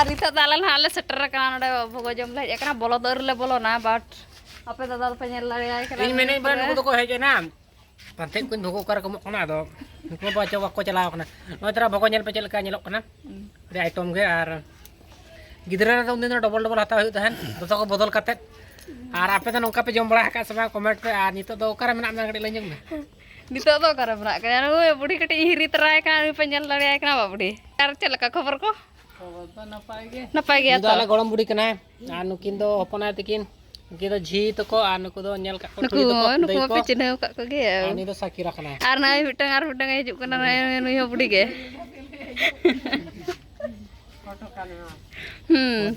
ᱟᱨ ᱱᱤᱛᱚᱜ ᱫᱚ ᱟᱞᱮ ᱱᱟᱦᱟᱜ ᱞᱮ ᱥᱮᱴᱮᱨ ᱟᱠᱟᱱᱟ ᱱᱚᱰᱮ ᱵᱷᱚᱜᱚ ᱡᱚᱢ ᱞᱮ ᱦᱮᱡ ᱟᱠᱟᱱᱟ ᱵᱚᱞᱚ ᱫᱚ ᱟᱹᱣᱨᱤ ᱞᱮ ᱵᱚᱞᱚᱱᱟ ᱵᱟᱴ ᱟᱯᱮ ᱫᱟᱫᱟ ᱫᱚᱯᱮ ᱧᱮᱞ ᱫᱟᱲᱮᱭᱟᱭ ᱠᱟᱱᱟ ᱤᱧ ᱢᱮᱱᱮᱫ ᱵᱟᱝ ᱱᱩᱠᱩ ᱫᱚᱠᱚ ᱦᱮᱡ ᱮᱱᱟ ᱯᱟᱱᱛᱮ ᱠᱚᱧ ᱵᱷᱚᱜᱚ ᱚᱠᱟᱨᱮ ᱠᱚ ᱮᱢᱚᱜ ᱠᱟᱱᱟ ᱟᱫᱚ ᱱᱩᱠᱩ ᱵᱟ ᱪᱚ ᱵᱟᱠᱚ ᱪᱟᱞᱟᱣ ᱠᱟᱱᱟ ᱱᱚᱜᱼᱚᱭ ᱛᱚᱨᱟ ᱵᱷᱚᱜᱚ ᱧᱮᱞ ᱯᱮ ᱪᱮᱫ ᱞᱮᱠᱟ ᱧᱮᱞᱚᱜ ᱠᱟᱱᱟ ᱟᱹᱰᱤ ᱟᱭᱴᱚᱢ ᱜᱮ ᱟᱨ ᱜᱤᱫᱽᱨᱟᱹ ᱨᱮᱫᱚ ᱩᱱᱫᱤᱱ ᱫᱚ ᱰᱚᱵᱚᱞ ᱰᱚᱵᱚᱞ ᱦᱟᱛᱟᱣ ᱦᱩᱭᱩᱜ ᱛᱟᱦᱮᱸᱫ ᱡᱚᱛᱚ ᱠᱚ ᱵᱚᱫᱚᱞ ᱠᱟᱛᱮᱫ ᱟᱨ ᱟᱯᱮ ᱫᱚ ᱱᱚᱝᱠᱟ ᱯᱮ ᱡᱚᱢ ᱵᱟᱲᱟ ᱟᱠᱟᱫ ᱥᱮ ᱵᱟᱝ ᱠᱚᱢᱮᱱᱴ ᱯᱮ ᱟᱨ ᱱᱤᱛᱚᱜ ᱫᱚ ᱚᱠᱟᱨᱮ ᱢᱮᱱᱟᱜ ᱢᱮᱭᱟ ᱠᱟᱹᱴᱤᱡ ᱞᱟᱹᱭ ᱧᱚᱜ ᱢᱮ ᱱᱤᱛᱚᱜ ᱫᱚ ᱚᱠᱟᱨᱮ ᱢᱮᱱᱟᱜ ᱠᱟᱫᱟ ᱱᱩᱭ ᱵᱩᱰᱷᱤ ᱠᱟᱹᱴᱤᱡ ᱦᱤᱨᱤ ᱛᱟᱨᱟᱭ ᱠᱟᱱᱟ ᱱᱩᱭ ᱯᱮ ᱧᱮᱞ ᱫᱟᱲᱮᱭᱟᱭ ᱠᱟᱱᱟ ᱵᱟ ᱵᱩᱰᱷᱤ ᱟᱨ ᱪᱮᱫ ᱞᱮᱠᱟ ᱠᱷᱚᱵᱚᱨ ᱠᱚ ᱱᱟᱯᱟᱭ ᱜᱮ ᱱᱟᱯᱟᱭ ᱜᱮᱭᱟ ᱛᱚ ᱟᱞᱮ ᱜᱚᱲᱚᱢ ᱵᱩᱰᱷᱤ ᱠᱟᱱᱟᱭ ᱟᱨ ᱱᱩᱠᱤᱱ ᱫᱚ ᱦᱚᱯᱚᱱᱟᱭ ᱛᱟᱹᱠᱤᱱ ᱱᱩᱠᱤᱱ ᱫᱚ ᱡᱷᱤ ᱛᱟᱠᱚ ᱟᱨ ᱱᱩᱠᱩ ᱫᱚ ᱧᱮᱞ ᱠᱟᱜ ᱠᱚ ᱱᱩᱠᱩ ᱱᱩᱠᱩ ᱢᱟᱯᱮ ᱪᱤᱱᱦᱟᱹᱣ ᱠᱟᱜ ᱠᱚᱜᱮ ᱩᱱᱤ ᱫᱚ ᱥᱟᱠᱤᱨᱟ ᱠᱟᱱᱟᱭ ᱟᱨ ᱱᱟᱭ ᱢᱤᱫᱴᱟᱝ ᱟᱨ ᱢᱤᱫᱴᱟᱝ ᱦᱤᱡᱩᱜ ᱠᱟᱱᱟ ᱱᱩᱭ ᱦᱚᱸ ᱵᱩᱰᱷᱤ ᱜᱮ ᱦᱩᱸ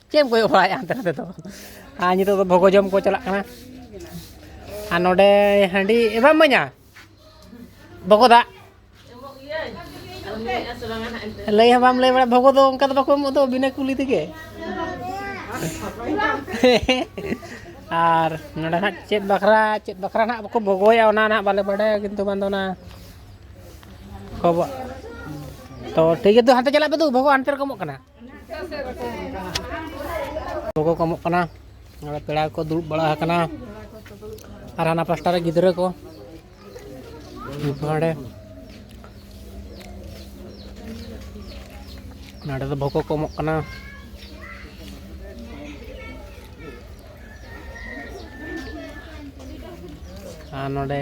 ᱪᱮᱫ ᱮᱢ ᱠᱚᱭᱚᱜ ᱵᱟᱲᱟᱭᱮᱫᱼᱟ ᱦᱟᱱᱛᱮ ᱱᱟᱛᱮ ᱫᱚ ᱟᱨ ᱱᱤᱛᱚᱜ ᱫᱚ ᱵᱷᱚᱜᱚ ᱡᱚᱢ ᱠᱚ ᱪᱟᱞᱟᱜ ᱠᱟᱱᱟ ᱟᱨ ᱱᱚᱰᱮ ᱦᱟᱺᱰᱤ ᱮ ᱵᱟᱢ ᱤᱢᱟᱹᱧᱟ ᱵᱷᱚᱜᱚ ᱫᱟᱜ ᱞᱟᱹᱭ ᱦᱚᱸ ᱵᱟᱢ ᱞᱟᱹᱭ ᱵᱟᱲᱟ ᱵᱷᱚᱜᱚ ᱫᱚ ᱚᱱᱠᱟ ᱫᱚ ᱵᱟᱠᱚ ᱮᱢᱚᱜ ᱫᱚ ᱵᱤᱱᱟᱹ ᱠᱩᱞᱤ ᱛᱮᱜᱮ ᱟᱨ ᱱᱚᱰᱮ ᱦᱟᱸᱜ ᱪᱮᱫ ᱵᱟᱠᱷᱨᱟ ᱪᱮᱫ ᱵᱟᱠᱷᱨᱟ ᱦᱟᱸᱜ ᱵᱟᱠᱚ ᱵᱷᱚᱜᱚᱭᱟ ᱚᱱᱟ ᱦᱟᱸᱜ ᱵᱟᱞᱮ ᱵᱟᱰᱟᱭᱟ ᱠᱤᱱᱛᱩ ᱵᱟᱝ ᱫᱚ ᱚᱱᱟ ᱠᱚ ᱛᱚ ᱴᱷᱤᱠ ᱜᱮᱭᱟ ᱦᱟᱱᱛᱮ ᱪᱟᱞᱟᱜ ᱯᱮ ᱫᱩ ᱵᱷᱚᱜᱚ ᱦᱟᱱᱛᱮ ᱨᱮᱠᱚ ᱮᱢᱚᱜ ᱠᱟᱱᱟ ᱜᱚᱜᱚ ᱠᱚ ᱮᱢᱚᱜ ᱠᱟᱱᱟ ᱱᱚᱰᱮ ᱯᱮᱲᱟ ᱠᱚ ᱫᱩᱲᱩᱵ ᱵᱟᱲᱟ ᱟᱠᱟᱱᱟ ᱟᱨ ᱦᱟᱱᱟ ᱯᱟᱥᱴᱟ ᱨᱮ ᱜᱤᱫᱽᱨᱟᱹ ᱠᱚ ᱱᱚᱰᱮ ᱱᱚᱰᱮ ᱫᱚ ᱵᱷᱚᱜᱚ ᱠᱚ ᱮᱢᱚᱜ ᱠᱟᱱᱟ ᱟᱨ ᱱᱚᱰᱮ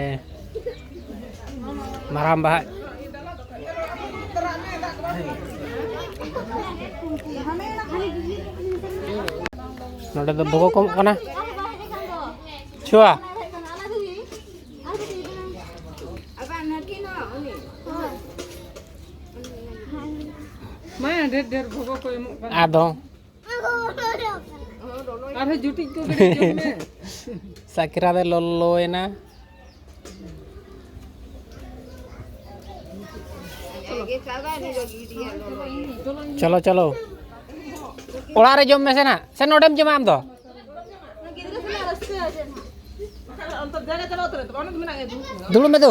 ᱢᱟᱨᱟᱝ ᱵᱟᱦᱟ ᱱᱚᱰᱮ ᱫᱚ ᱵᱚᱜᱚ ᱠᱚᱢᱚᱜ ᱠᱟᱱᱟ ᱪᱷᱩᱣᱟ ᱟᱫᱚ ᱥᱟᱠᱨᱟ ᱫᱚ ᱞᱚᱞᱚᱭᱮᱱᱟ ᱪᱚᱞᱚ ᱪᱚᱞᱚ ᱚᱲᱟᱜ ᱨᱮ ᱡᱚᱢ ᱢᱮᱥᱮ ᱱᱟᱜ ᱥᱮ ᱱᱚᱰᱮᱢ ᱡᱚᱢᱟ ᱟᱢ ᱫᱚ ᱫᱩᱲᱩᱵ ᱢᱮ ᱫᱩ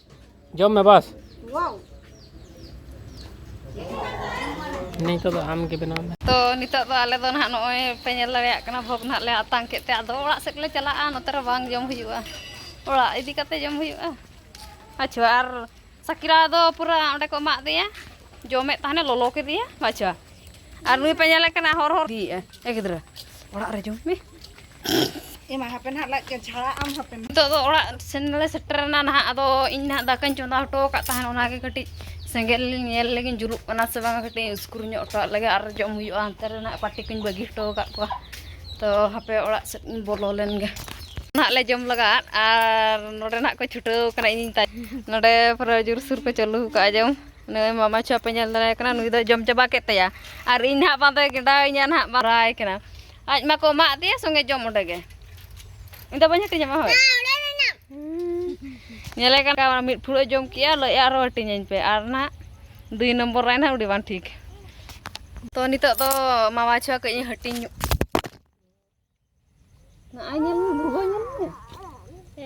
ᱡᱚᱢ ᱢᱮ ᱵᱟᱥ ᱱᱤᱛᱚᱜ ᱫᱚ ᱟᱢ ᱜᱮ ᱵᱮᱱᱟᱣ ᱢᱮ ᱛᱚ ᱱᱤᱛᱚᱜ ᱫᱚ ᱟᱞᱮ ᱫᱚ ᱱᱟᱦᱟᱜ ᱱᱚᱜᱼᱚᱭ ᱯᱮ ᱧᱮᱞ ᱫᱟᱲᱮᱭᱟᱜ ᱠᱟᱱᱟ ᱵᱷᱚᱜᱽ ᱱᱟᱦᱟᱜ ᱞᱮ ᱟᱛᱟᱝ ᱠᱮᱫ ᱛᱮ ᱟᱫᱚ ᱚᱲᱟᱜ ᱥᱮᱫ ᱞᱮ ᱪᱟᱞᱟᱜᱼᱟ ᱱᱚᱛᱮ ᱨᱮ ᱵᱟᱝ ᱡᱚᱢ ᱦᱩᱭᱩᱜᱼᱟ ᱚᱲᱟᱜ ᱤᱫᱤ ᱠᱟᱛᱮ ᱡᱚᱢ ᱦᱩᱭᱩᱜᱼᱟ ᱟᱪᱪᱷᱟ ᱟᱨ ᱥᱟᱠᱤᱨᱟ ᱫᱚ ᱯᱩᱨᱟᱹ ᱚᱸᱰᱮ ᱠᱚ ᱮᱢᱟᱜ ᱫᱮᱭᱟ ᱡᱚᱢᱮᱫ ᱛᱟᱦᱮᱱᱮ ᱞᱚᱞᱚ ᱠᱮᱫᱮᱭᱟ ᱟᱪᱪᱷᱟ ᱟᱨ ᱱᱩᱭ ᱯᱮ ᱧᱮᱞᱮ ᱠᱟᱱᱟ ᱦᱚᱨ ᱦᱚᱨ ᱤᱫᱤᱭᱮᱫᱼᱟ ᱮ ᱜᱤᱫᱽᱨᱟᱹ ᱚᱲᱟᱜ ᱨᱮ ᱡᱚᱢ ᱢᱮ ᱮᱢᱟ ᱦᱟᱯᱮ ᱱᱟᱦᱟᱜ ᱞᱟᱡ ᱠᱚ ᱡᱷᱟᱲᱟᱜ ᱟᱢ ᱦᱟᱯᱮ ᱱᱤᱛᱚᱜ ᱫᱚ ᱚᱲᱟᱜ ᱥᱮᱱ ᱞᱮ ᱥᱮᱴᱮᱨᱮᱱᱟ ᱱᱟᱦᱟᱜ ᱟᱫᱚ ᱤᱧ ᱱᱟᱦᱟᱜ ᱫᱟᱠᱟᱧ ᱪᱚᱸᱫᱟ ᱦᱚᱴᱚ ᱟᱠᱟᱫ ᱛᱟᱦᱮᱱ ᱚᱱᱟᱜᱮ ᱠᱟᱹᱴᱤᱡ ᱥᱮᱸᱜᱮᱞ ᱞᱤᱧ ᱧᱮᱞ ᱞᱮᱜᱤᱧ ᱡᱩᱞᱩᱜ ᱠᱟᱱᱟ ᱥᱮ ᱵᱟᱝᱟ ᱠᱟᱹᱴᱤᱡ ᱩᱥᱠᱩᱨ ᱧᱚᱜ ᱦᱚᱴᱚᱣᱟᱜ ᱞᱮᱜᱮ ᱟᱨ ᱡᱚᱢ ᱦᱩᱭᱩᱜᱼᱟ ᱦᱟᱱᱛᱮ ᱨᱮ ᱱᱟᱦᱟᱜ ᱯᱟᱴᱤ ᱠᱚᱧ ᱵᱟᱹᱜᱤ ᱦᱚᱴᱚ ᱟᱠᱟᱫ ᱠᱚᱣᱟ ᱛᱚ ᱦᱟᱯᱮ ᱚᱲᱟᱜ ᱥᱮᱫ ᱤᱧ ᱵᱚᱞᱚ ᱞᱮᱱᱜᱮ ᱱᱟᱦᱟᱜ ᱞᱮ ᱡᱚᱢ ᱞᱟᱜᱟᱜᱼᱟ ᱟᱨ ᱱᱚᱰᱮ ᱱᱟᱦᱟᱜ ᱠᱚ ᱪᱷᱩᱴᱟᱹᱣ ᱠᱟᱱᱟ ᱤᱧ ᱛᱟᱭ ᱱᱚᱰᱮ ᱯᱩᱨᱟᱹ ᱡᱳᱨ ᱥᱩᱨ ᱠᱚ ᱪᱟᱹᱞᱩ ᱟᱠᱟᱫᱼᱟ ᱡᱚᱢ ᱱᱩᱭ ᱢᱟᱢᱟ ᱪᱷᱩᱣᱟᱹ ᱯᱮ ᱧᱮᱞ ᱫᱟᱲᱮᱭᱟᱭ ᱠᱟᱱᱟ ᱱᱩᱭ ᱫᱚᱭ ᱡᱚᱢ ᱪᱟᱵᱟ ᱠᱮᱫ ᱛᱟᱭᱟ ᱟᱨ ᱤᱧ ᱱᱟᱦᱟᱜ ᱵᱟᱝ ᱫᱚᱭ ᱜᱮᱸᱰᱟᱣᱤᱧᱟ ᱱᱟᱦᱟᱜ ᱵᱟᱨᱟᱭ ᱠᱟᱱᱟ ᱟᱡ ᱢᱟᱠᱚ ᱮᱢᱟᱜ ᱫᱮᱭᱟ ᱥᱚᱸᱜᱮ ᱡᱚᱢ ᱚᱸᱰᱮ ᱜᱮ ᱤᱧ ᱫᱚ ᱵᱟᱹᱧ ᱦᱟᱹᱴᱤᱧᱟᱢᱟ ᱦᱳᱭ ᱧᱮᱞᱮ ᱠᱟᱱᱟ ᱢᱤᱫ ᱯᱷᱩᱲᱩᱜ ᱡᱚᱢ ᱠᱮᱜᱼᱟ ᱞᱟᱹᱭᱮᱜᱼᱟ ᱟᱨᱚ ᱦᱟᱹᱴᱤᱧᱟᱹᱧ ᱯᱮ ᱟᱨ ᱱᱟᱦᱟᱜ ᱫᱩᱭ ᱱᱚᱢᱵᱚᱨ ᱨᱟᱭ ᱱᱟᱦᱟᱜ ᱩᱰᱤ ᱵᱟᱝ ᱴᱷᱤᱠ ᱛᱚ ᱱᱤᱛᱚᱜ ᱫᱚ ᱢᱟᱢᱟ ᱪᱷᱩᱣᱟ ᱠᱟᱹᱡ ᱦᱟᱹᱴᱤᱧ ᱧᱚᱜ ᱱᱚᱜᱼᱚᱭ ᱧᱮᱞ ᱢᱮ ᱵᱷᱩᱜᱟᱹ ᱧᱮᱞ ᱢᱮ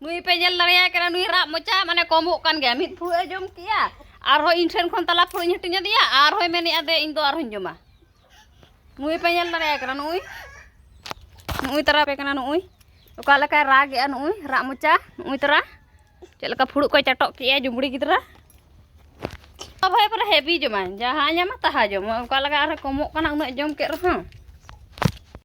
ᱱᱩᱭ ᱯᱮ ᱧᱮᱞ ᱫᱟᱲᱮᱭᱟᱭ ᱠᱟᱱᱟ ᱱᱩᱭ ᱨᱟᱜ ᱢᱚᱪᱟ ᱢᱟᱱᱮ ᱠᱚᱢᱚᱜ ᱠᱟᱱ ᱜᱮᱭᱟ ᱢᱤᱫ ᱯᱷᱩᱲᱩᱜ ᱮ ᱡᱚᱢ ᱠᱮᱜᱼᱟ ᱟᱨᱦᱚᱸ ᱤᱧ ᱴᱷᱮᱱ ᱠᱷᱚᱱ ᱛᱟᱞᱟ ᱯᱷᱩᱲᱩᱜ ᱤᱧ ᱦᱟᱹᱴᱤᱧ ᱟᱫᱮᱭᱟ ᱟᱨᱦᱚᱸᱭ ᱢᱮᱱᱮᱜᱼᱟ ᱫᱮ ᱤᱧ ᱫᱚ ᱟᱨᱦᱚᱸᱧ ᱡᱚᱢᱟ ᱱᱩᱭ ᱯᱮ ᱧᱮᱞ ᱫᱟᱲᱮᱭᱟᱭ ᱠᱟᱱᱟ ᱱᱩᱭ ᱱᱩᱭ ᱛᱟᱨᱟ ᱯᱮ ᱠᱟᱱᱟ ᱱᱩᱭ ᱚᱠᱟ ᱞᱮᱠᱟᱭ ᱨᱟᱜᱮᱜᱼᱟ ᱱᱩᱭ ᱨᱟᱜ ᱢᱚᱪᱟ ᱱᱩᱭ ᱛᱟᱨᱟ ᱪᱮᱫ ᱞᱮᱠᱟ ᱯᱷᱩᱲᱩᱜ ᱠᱚᱭ ᱪᱟᱴᱚᱜ ᱠᱮᱜᱼᱟ ᱡᱩᱢᱲᱤ ᱜᱤᱫᱽᱨᱟᱹ ᱵᱷᱟᱭ ᱯᱩᱨᱟᱹ ᱦᱮᱵᱤ ᱡᱚᱢᱟᱭ ᱡᱟᱦᱟᱸ ᱧᱟᱢᱟ ᱛᱟᱦᱟ ᱡᱚᱢ ᱚᱠᱟ ᱞᱮᱠᱟ ᱟᱨᱦᱚᱸ ᱠᱚᱢᱚᱜ ᱠᱟᱱᱟ ᱩᱱᱟᱹᱜ ᱡᱚᱢ ᱠᱮᱫ ᱨᱮᱦᱚᱸ